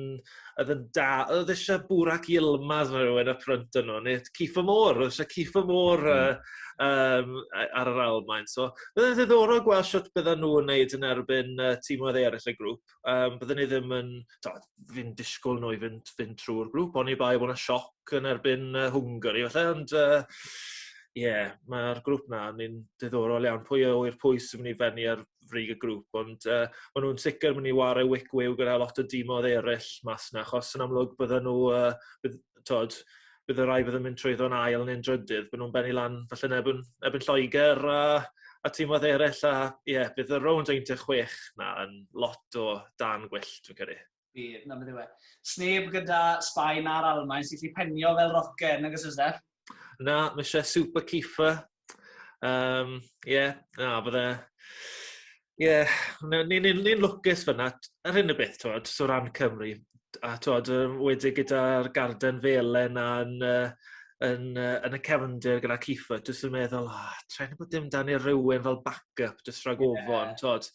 odd yn da odd isie Burak Yilmaz ne' rywun up front arno ne' t- Kiefer Moore odd isie Kiefer Moore yy yym yy ar yr Almaen so bydde ddiddorol gweld shwt bydda nw yn neud yn erbyn yy tîmoedd eryll y grŵp. Yym bydden i ddim yn t'od fi'n disgwl n'w i fynd fynd trw'r grŵp oni bai bo' 'na sioc yn erbyn yy Hwngari falle ond yy ie ma'r grŵp 'na yn un diddorol iawn pwy a ŵyr pwy sy myn' i fenni ar frig y grŵp ond yy ma' nw'n sicir myn' i 'ware wic wiw gyda lot o dimodd eryll mas 'na achos yn amlwg bydden nhw yy bydd t'od bydd y rai bydd yn mynd trwyddo'n ail neu'n drydydd bydden nhw'n bennu lan falle yn erbyn erbyn Lloegr a a tîmoedd eraill a ie bydd y rownd un deg chwech 'na yn lot o dân gwyllt dwi'n credu. Bydd, 'na beth yw e. Sneb gyda Sbaen na'r Almaen sy'n gallu penio fel rocen, nag oes e Steff? Na, ma' isie Super Keefer Yym, ie, na, bydde... Ie, na, ni ni'n ni'n lwcus fan'na. T- yr hyn o beth, t'mod, so o ran Cymru, t- a t'mod, yy, enwedig gyda'r garden felen a'n yy yn yy yn y cefndir gyda Kiefer jyst yn meddwl, O, sa i'n gwbod dim 'da ni rywun fel back up jyst rhag ofon, t'mod?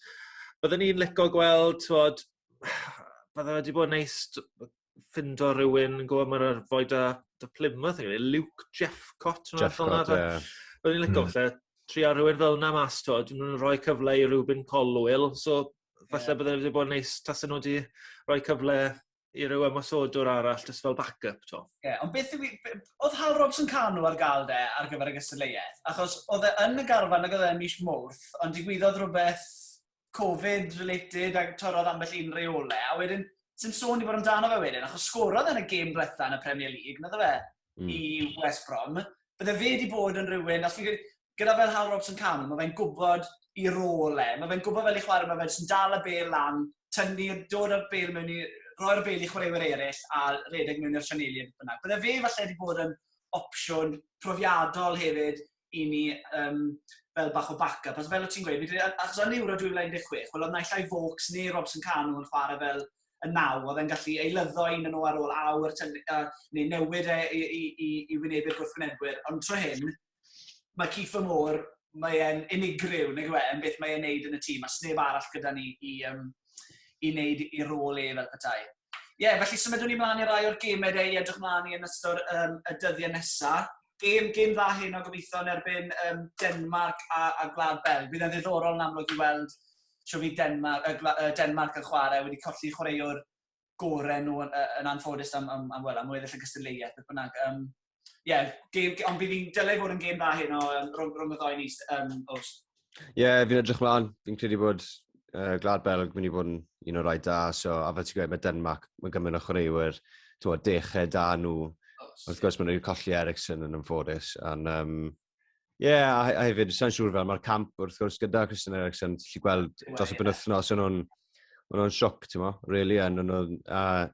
Bydden i'n lico gweld, t'mod, bydde fe 'di bod yn neis t- ffindo rhywun yn gwybod mae'r arfoi da, da Plymouth, yn gwneud, Luke Jeffcott. Jeffcott, ie. Yeah. Byddwn i'n licio mm. falle trio rhywun fel yna mas, to, dyn nhw'n rhoi cyfle i Rubin Colwyl, so falle yeah. byddwn wedi bod yn neis tas nhw wedi rhoi cyfle i ryw ymwysodwr arall, jyst fel backup, to. Ie, yeah, ond beth yw... Oedd Hal Robson Cano ar gael de ar gyfer y gystadleuaeth? Achos oedd e yn y garfan ag oedd e mis mwrth, ond digwyddodd rhywbeth Covid related a torrodd ambell un reole, a wedyn, sy'n sôn i fod amdano fe wedyn, achos sgorodd yn y gêm diwetha yn y Premier League, nad o fe, mm. i West Brom. Bydde fe wedi bod yn rhywun, os fi'n gyda fel Hal Robson Cameron, mae fe'n gwybod i rôl e, mae fe'n gwybod fel i chwarae, mae fe'n dal y bel lan, tynnu, dod o'r bel mewn i, roi'r bel i chwaraewyr eraill a redeg mewn i'r sianeli a beth bynnag. Bydde fe falle wedi bod yn opsiwn profiadol hefyd i ni um, fel bach o backup. Ac fel o ti'n gweud, achos yn Euro 2016, wel oedd naill ai Vokes neu Robson Cano yn chwarae fel y naw, oedd e'n gallu eilyddo un yn o ar ôl awr, neu newid e i, i, i, i wynebu'r gwrthwynebwyr. Ond tro hyn, mae Keith Moore, mae'n unigryw, neu gwe, yn beth mae'n neud yn y tîm, a sneb arall gyda ni i, um, i wneud ei rôl e fel petai. Ie, yeah, felly symudwn ni mlaen i rai o'r gemau dau i edrych mlaen i yn ystod um, y dyddiau nesaf. Gêm, gêm dda hyn o gobeithio yn erbyn um, Denmark a, a Gwlad Belg. Bydd yn ddiddorol yn amlwg i weld sio fi Denmark, uh, Denmark yn chwarae wedi colli chwaraewr gorau nhw yn, yn anffodus am, am, am, well, am weddill y gystadleuaeth, beth bynnag. Um, yeah, game, ond bydd hi'n dylai fod yn gêm dda hyn o um, rhwng, rhwng y ddoi ni, um, os. Ie, yeah, fi'n edrych mlaen. Fi'n credu bod uh, Glad Belg mynd i fod yn un o'r rhaid da. So, a fel ti'n gweud, mae Denmark, mae gymryd o chwaraewyr, ti'n dechrau da nhw. Wrth gwrs, mae'n rhaid colli Ericsson yn ymffodus. And, um, Ie, yeah, a, a hefyd, sa'n siŵr fel, mae'r camp wrth gwrs gyda Christian Eriksen, ti'n lli gweld dros y penwthnos, o'n nhw'n nhw sioc, ti'n mo, really, a nhw'n nhw'n...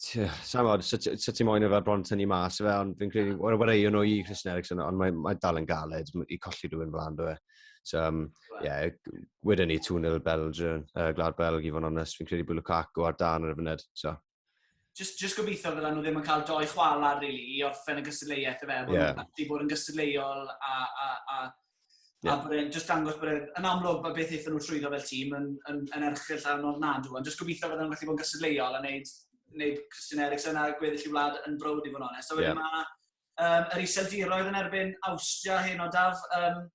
Sa'n fawr, sut ti'n moyn efo'r bron tynnu mas, fe, ond fi'n credu, o'r wareio nhw i Christian Eriksen, ond mae'n mae dal yn galed i colli rhywun flan, dwi. So, um, yeah, wedyn ni 2-0 Belgium, uh, Glad Belg, i fod yn onest, fi'n credu bod Lukaku ar dan ar y funud, so. just, just gobeithio fydda nhw ddim yn cael doi chwalar, really, i orffen y gystadleuaeth, efe, bod yeah. nhw'n gallu bod yn gystadleuol a, a, a, yeah. a bod e'n just dangos bod e'n yn amlwg bod beth eithon nhw trwyddo fel tîm yn, yn, yn erchill a nod nad nhw, ond just gobeithio fydda nhw'n gallu bod yn gystadleuol a wneud, wneud Christian Eriksen a gweddill i wlad yn brod i fod yn onest. So, yeah. mae um, yr iseldiroedd yn erbyn Austria hyn o daf, um,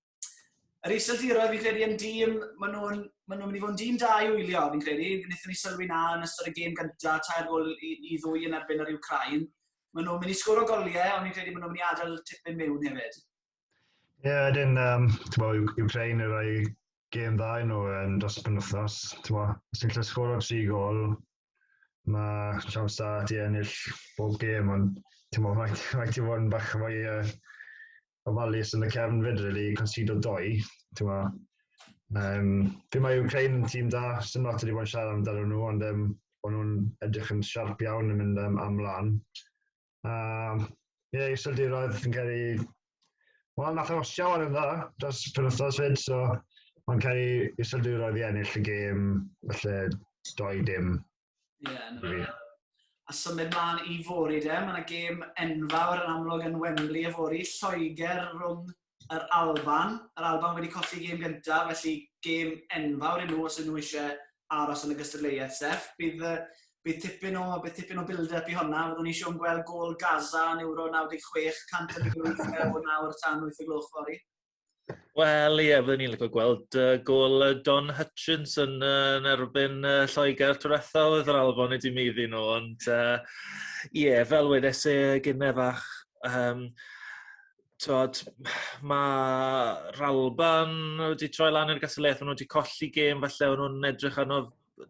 yr Iseldiroedd, fi'n credu, yn dîm, maen nhw'n ma nhw mynd i fod yn dîm da i wylio, fi'n credu. Wnaethon ni sylwi na yn ystod y gêm gyntaf, tair gol i, i ddwy yn erbyn yr Ukraine. Maen nhw'n mynd i sgwr o goliau, ond fi'n credu maen nhw'n mynd i adael tipyn mewn hefyd. Ie, yeah, ydyn, um, Ukraine yn rhoi gêm dda i nhw yn dros y penwthnos. Os ni'n lle sgwr o tri gol, mae siawns da ti ennill bob gêm, ond ti'n meddwl, rhaid i fod yn bach fwy uh, ofalus yn y cefn fyd, really, consido doi, ti'n ma. Um, fi mae Ukraine yn tîm da, sy'n lot wedi bod yn siarad amdano nhw, ond um, bod nhw'n edrych yn siarp iawn yn mynd um, am lan. Um, ie, yeah, iseldiroedd yn cael ei... Wel, nath o siawr yn dda dros penwthnos fyd, so mae'n cael ei iseldiroedd i ennill y gêm, felly doi dim Ie, yeah, na. Really. A symud mlaen i fori de, mae yna gêm enfawr yn amlwg yn Wembley y fori, Lloegr rhwng yr Alban. Yr Alban wedi colli gêm gyntaf, felly gêm enfawr i nhw os ydyn nhw eisiau aros yn y gystadleuaeth, Sef. Bydd, bydd tipyn o, bydd tipyn o build-up i honna. Fyddwn ni eisiau gweld gol Gaza yn Euro 96, 100 o nawr tan 8 o gloch fori. Wel, ie, byddwn ni'n lygo gweld uh, gol uh, Don Hutchins yn, uh, yn erbyn uh, Lloegr Twyretha oedd yr Alban wedi mi iddyn nhw, ond ie, uh, yeah, fel wedes e gynnau fach, um, tod, mae Ralban wedi troi lan i'r gasolaeth, maen nhw wedi colli gêm, falle maen nhw'n edrych arno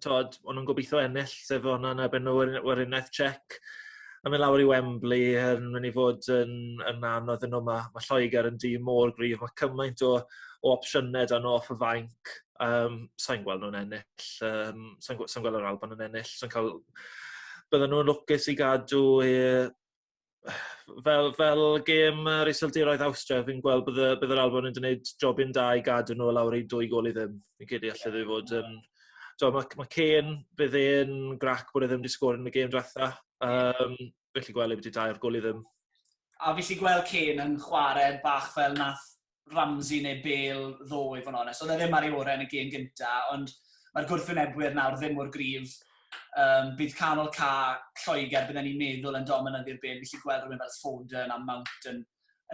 tod, o'n nhw'n gobeithio ennill, sef o'n nhw'n erbyn nhw yn Werineth Czech. Yn mynd lawr i Wembley yn mynd i fod yn, yn anodd yn nhw. Mae, mae Lloegr yn dîm mor gryf. Mae cymaint o, o opsiynau dan off y fainc. Um, sa'n gweld nhw'n ennill. Um, sa'n, sa gweld yr Alban yn ennill. Sa'n cael... Bydden nhw'n lwcus i gadw e, fel fel gêm yr Iseldiroedd Awstria fi'n gweld bod y bydd yr Alban yn gwneud jobyn da i gadw nhw lawr i dwy gol i ddim. Fi'n credu allai fe fod yn t'o' ma' ma' Kane bydd e'n grac bod e ddim wedi sgôr yn y gêm dwetha. Yym felly gwely byti dair gol i ddim. A fi 'llu gweld Kane yn chware bach fel nath Ramsey neu Bale ddo i fod yn onest. Oedd e ddim ar ei orau yn y gêm gynta, ond mae'r gwrthwynebwyr nawr ddim mor grif. Um, bydd canol ca Lloegr, bydden ni'n meddwl yn dominyddu'r byd. Felly gweld rhywun fel Foden a Mount yn,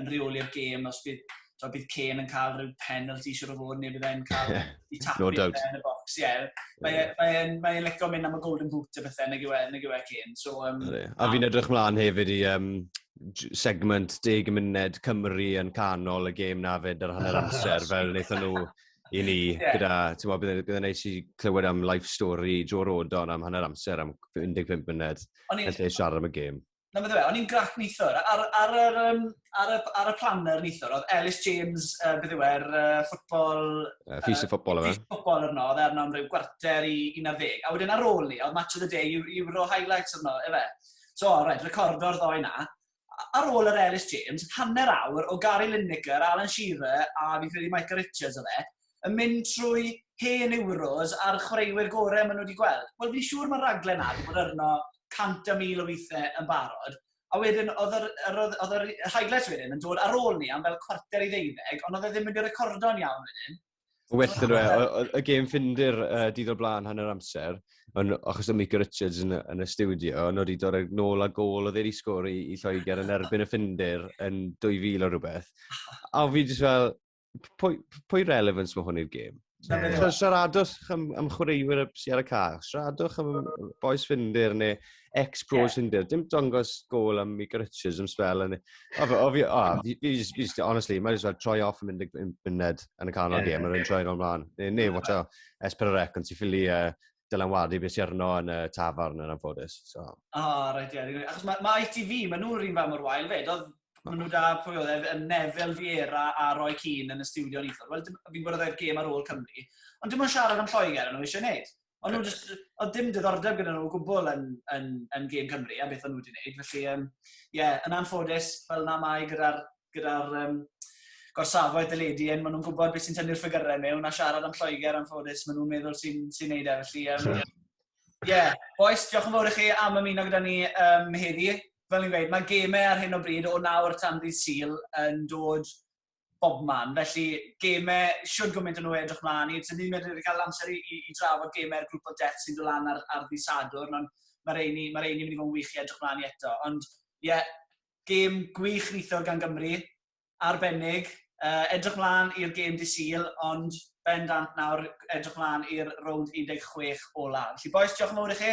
yn reoli'r gêm os bydd So, bydd Kane yn cael rhyw penalty i siwr o fod, neu bydd e'n cael i tapu no yn y box. Ie, yeah. mae'n yeah. mae e, mae e licio mynd am y golden boot a bethau, nag yw e, nag yw e Kane. So, um, a fi'n edrych mlaen hefyd i um, segment deg munud Cymru yn canol y gêm na fyd ar hanner amser, fel wnaethon nhw i ni, yeah. gyda, ti'n meddwl, bydd yn neis i clywed am life story Joe Rodon am hanner amser am 15 munud, yn lle siarad am y gêm. Na, beth yw e, o'n i'n grac nithwr. Ar, ar, ar, um, ar, y, ar y planner nithwr, oedd Ellis James, uh, beth yw e'r uh, ffwtbol... Uh, ffys y ffwtbol yma. Ffys y ffwtbol yno, oedd arno am rhyw gwarter i 11. A wedyn ar ôl ni, oedd Match of the Day, Euro Highlights yno, efe. So, rhaid recordo'r ddoi na. Ar ôl yr Ellis James, hanner awr o Gary Lineker, Alan Shearer a fi'n credu Micah Richards o fe, yn mynd trwy hen Euros a'r chwaraewyr gorau maen nhw wedi gweld. Wel, fi'n siŵr mae'r raglen na wedi bod arno 100,000 o weithiau yn barod, a wedyn oedd yr, yr, oedd, oedd yr highlights wedyn yn dod ar ôl ni am fel cwarter i ddeuddeg, ond oedd e ddim wedi recordo'n iawn wedyn. Well yn dweud, e, oedd y gêm ffindir uh, didol blaen hanner amser, ond achos o Mika Richards yn, yn y studio, ond oedd i dod ag nôl a gol oedd ei sgori i Lloegr yn erbyn y ffindir yn 2000 o rhywbeth. A fi jyst fel, pwy, pwy relevance mae hwn i'r gêm? Yeah. Siaradwch am, am chwaraewyr sy'n ar y cael, siaradwch am boes ffindir neu Ex-pro yeah. Tinder. Dim dongos gol am i Richards am spel. Ond fi, o, fi, fi, honestly, mae'n just troi off yn mynd yn myned yn y canol yeah. gêm, mae'n troi o'n mlaen. Neu, ne, watch out, Esper Rec, ond ti'n ffili uh, Dylan Wadi beth sy'n arno yn y tafarn yn anffodus. So. O, oh, rhaid i yeah. Achos mae ma ITV, mae nhw'n rhywun fan mor wael fyd. Oedd Mae nhw da, pwy oedd e, Nefel Fiera a Roy Keane yn y studio yn eithaf. Wel, fi'n gwybod oedd e'r gêm ar ôl Cymru. Ond dim ond siarad am Lloegr yn nhw eisiau gwneud. Ond nhw jyst, oedd dim diddordeb gyda nhw o gwbl yn, yn, yn gêm Cymru a beth o'n nhw wedi gwneud. Felly, ie, um, yeah, yn anffodus, fel na mae gyda'r gyda um, gorsafoedd dyledu hyn, maen nhw'n gwybod beth sy'n tynnu'r ffigurau mewn a siarad am Lloegr anffodus, maen nhw'n meddwl sy'n sy wneud e. Felly, ie, um, yeah. boes, diolch yn fawr i chi am ymuno gyda ni um, heddi. Fel ni'n gweud, mae gemau ar hyn o bryd o nawr tan ddydd Sil yn dod bob man. Felly, gemau, siwr gymaint o nhw edrych mlaen i. Tyd ni'n mynd i gael amser i, i, i drafod gemau'r grŵp o death sy'n dod lan ar, ar ddi Sadwrn, ond mae'r reini, mae reini mynd i fod yn wych i edrych mlaen i eto. Ond, ie, yeah, gêm gwych nithwr gan Gymru, arbennig. Uh, edrych mlaen i'r gêm di Sil, ond bendant nawr edrych mlaen i'r rownd 16 ola. Felly, boes, diolch yn fawr i chi.